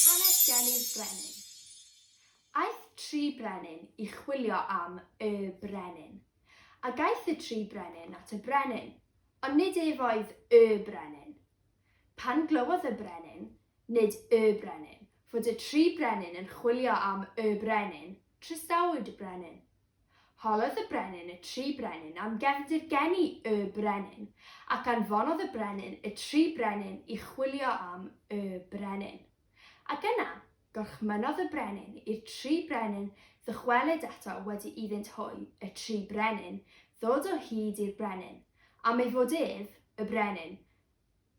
Hanes Gelli'r Brenin Aeth tri brenin i chwilio am Y Brenin. Ac aeth y tri brenin at y brenin, ond nid ef oedd Y Brenin. Pan glywodd y brenin, nid y brenin, fod y tri brenin yn chwilio am y brenin, trysawyd y brenin. Holodd y brenin y tri brenin am gefndir geni y brenin, ac anfonodd y brenin y tri brenin i chwilio am y brenin. Ac yna, gorchmynnodd y brenin i'r tri brenin ddychwelyd eto wedi iddynt hwy, y tri brenin, ddod o hyd i'r brenin, am ei fod ef, y brenin,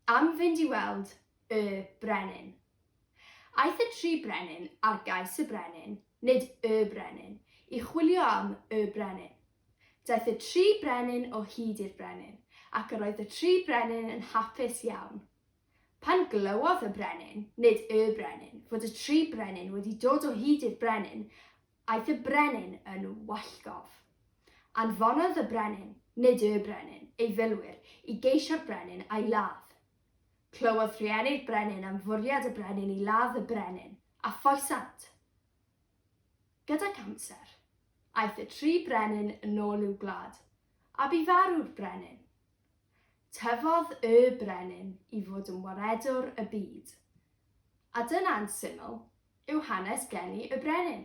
am fynd i weld y brenin. Aeth y tri brenin ar gais y brenin, nid y brenin, i chwilio am y brenin. Daeth y tri brenin o hyd i'r brenin, ac yr oedd y tri brenin yn hapus iawn. Pan glywodd y brenin, nid y brenin, fod y tri brenin wedi dod o hyd i'r brenin, Aeth y brenin yn wallgof. Anfonodd y brenin, nid y brenin, ei filwyr i geisio'r brenin a'i ladd. Clywodd rhieni'r brenin am fwriad y brenin i ladd y brenin, a foesant. Gydag amser, aeth y tri brenin yn ôl i'w gwlad, a bu farw'r brenin. Tyfodd y brenin i fod yn waredwr y byd. A dyna'n syml, yw hanes geni y brenin?